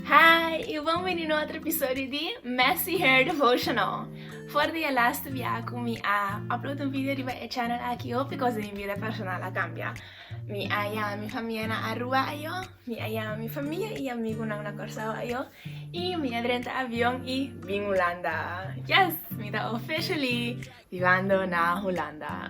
Hi y bon bini na otro episodio di Messy Hair Devotional. For di e laste bia cu mi a upload un video riba e channel aki hopi cos den mi vida personal a cambia. Mi a yama mi famia na Aruba ayo, mi a yama mi famia y amigunan na Corsao ayo y mi a drenta avion y bin Hulanda. Yes! Mi ta officially vivando na Hulanda.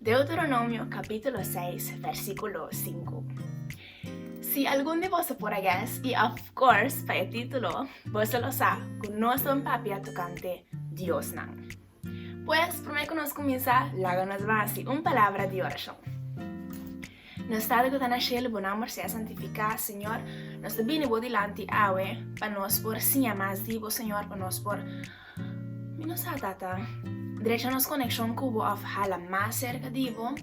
Deuteronomio capítulo seis versículo sinku. Si algun di boso por a guess, i of course pa e título boso lo sa ku nos ta un papia tokante diosnan. Pues, promé ku nos kuminsá, laga nos basi un palabra di orashon. Na stado cu ta na cielo bo nomber sea santifica, Señor, nos ta bini bo dilanti awe pa nos por siña mas di bo, Señor, pa nos por, mi no sa, Tata, drecha nos coneccion cu bo of hala mas cerca di bo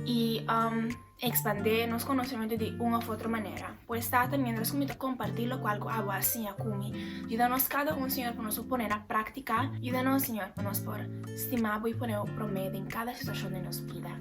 y um expande nos conocimento di un of otro manera. Pues, Tata, mientras cu mi ta comparti locual cu abo a siña cu mi, yuda nos cada un, Señor, pa nos por pone na practica. Yuda nos, Señor, pa nos por stima bo y pone bo prome den cada situacion den nos bida.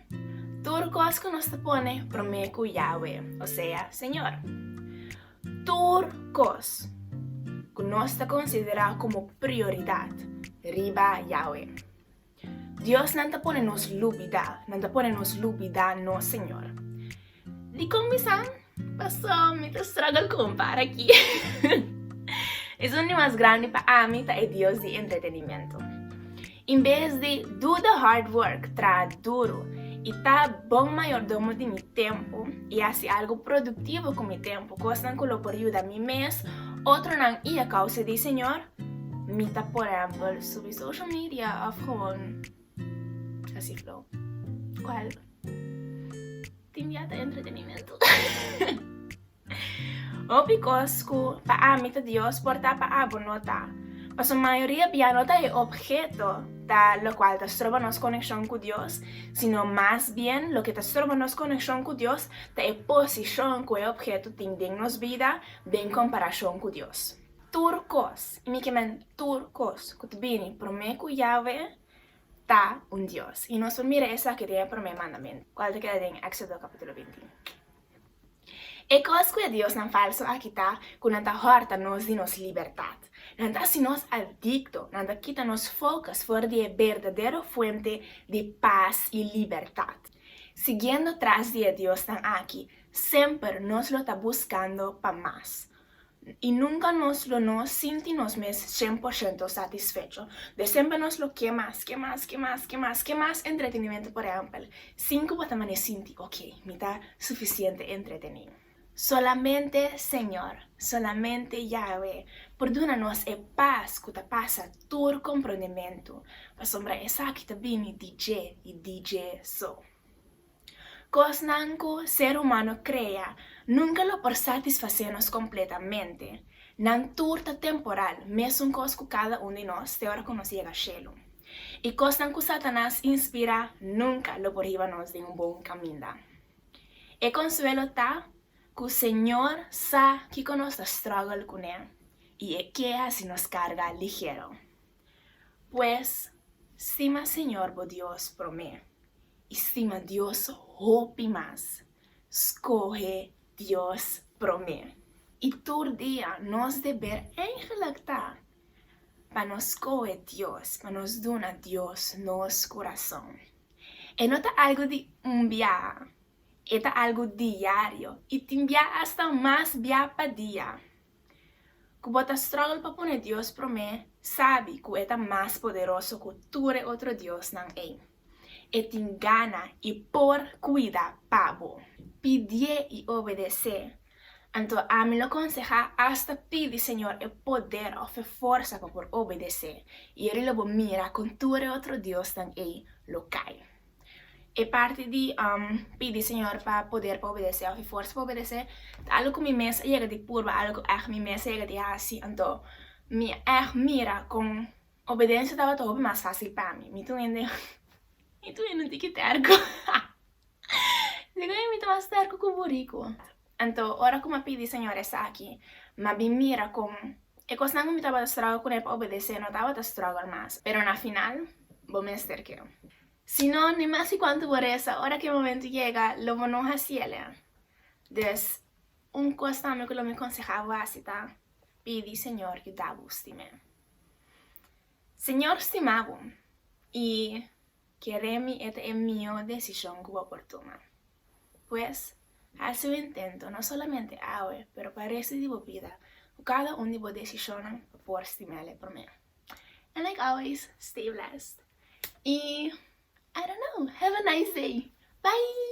Tur kos ku nos ta pone promé ku Yahwe, osea Señor. Tur kos ku nos ta konsiderá komo prioridat riba Yahwe. Diosnan ta pone nos lubidá, nan ta pone nos lubidá nos Señor. Di con mi sa? Paso mi ta struggle cu un par aki. Esun di mas grandi pa ami ta e dios di entretenimento. In bes di do the hard work, traha duro, y ta bon mayordomo di mi tempo y haci algo productivo cu mi tempo, cosnan cu lo por yuda mi mes, otronan y a causa di e Señor, mi ta por hempel subi social media of gewoon Así flow. ¿Cuál? Tin ya te entretenimiento. Hopi cos cu pa ami ta Dios por ta pa abo no ta. Paso mayoría bia no ta e objeto ta lo cual ta stroba nos conexión cu Dios, sino mas bien loke ta stroba nos conexión cu Dios ta e posición cu e objeto tin den nos bida den comparación cu Dios. Tur kos, i mi kimen tur kos ku ta bini promé ku Yahweh ta un Dios. I nos por mira esaki den e promé mandamentu, kual ta keda den Éxodo kapítulo binti un. E kos ku e diosnan falsu a kita ku nan ta hòrta nos di nos libertat. Nan ta hasi nos adikto, nan ta kita nos fokus for di e berdadero fuente di pas i libertat. Siguiendo tras di e diosnan aki, semper nos lo ta buskando pa mas. I nunka nos lo no sinti nos mes shen por shento satisfecho. De semper nos lo ke mas, ke mas, ke mas, ke mas, ke mas entretenimentu. Por ehèmpel, sinku bo ta mane sinti, Oke, mi ta sufisiente entretení. Solamente Señor, solamente Yahwe, por duna nos e pas ku ta pasa tur komprondementu, pasobra esaki ta bini di dje i di dje so. Kosnan ku ser humano krea nunka lo por satisfasé nos kompletamente. Nan tur ta temporal, mesun kos ku kada un di nos te ora ku nos yega shelu. I kosnan ku Satanas inspirá nunka lo por hiba nos den un bon kaminda. E konsuelo ta ku Señor sa kiko nos ta struggle kuné i e ke hasi nos karga ligero. Pues, stima Señor bo Dios promé, i stima Dios hopi mas. Skohe Dios promé. I tur dia nos deber eigenlik ta pa nos skohe Dios, pa nos duna Dios nos kurason. E no ta algu di un bia, e ta algu diario, i tin bia asta mas bia pa dia. ku bo ta struggle pa pone Dios promé, sabi ku e ta mas poderoso ku tur e otro diosnan ei. E tin gana i por kuida pa bo. Pidié i obedesé. Anto ami lo konsehá asta pidi Señor e poder òf e forsa pa por obedesé, i e lo bo mira kon tur e otro diosnan ei lo kai. E parti di pidi Señor pa poder pa obedesé òf e forsa pa obedesé ta algu ku mi mes a yega di purba, algu ku ègt mi mes a yega di hasi. Anto mi a ègt mira kon obedensia tabata hopi mas fásil pa mi. Mi ta un hende mi ta un hende un tiki tèrku. Dikon mi ta mas tèrku ku boriku? Anto, ora ku m'a pidi Señor esaki, m'a bin mira kon e kosnan ku mi tabata strògel kuné pa obedes'é no tabata strògel mas. Pero na final, bo mester ke. Si no, ni mas ki kuantu bo resa, ora ku e momentu yega, lo bo no hasiéle. Dus, un kos tambe ku lo mi konsehá bo hasi ta, Pidi Señor yuda bo stim'é. Señor stima bo, i Kere mi e ta e mihó desishon ku bo por tuma. Pues, hasi un intento, no solamente awe, pero pa restu di bo bida, ku kada un di bo desishonnan por stimel e promé. And like always, stay blessed i I don't know, have a nice day! Bye!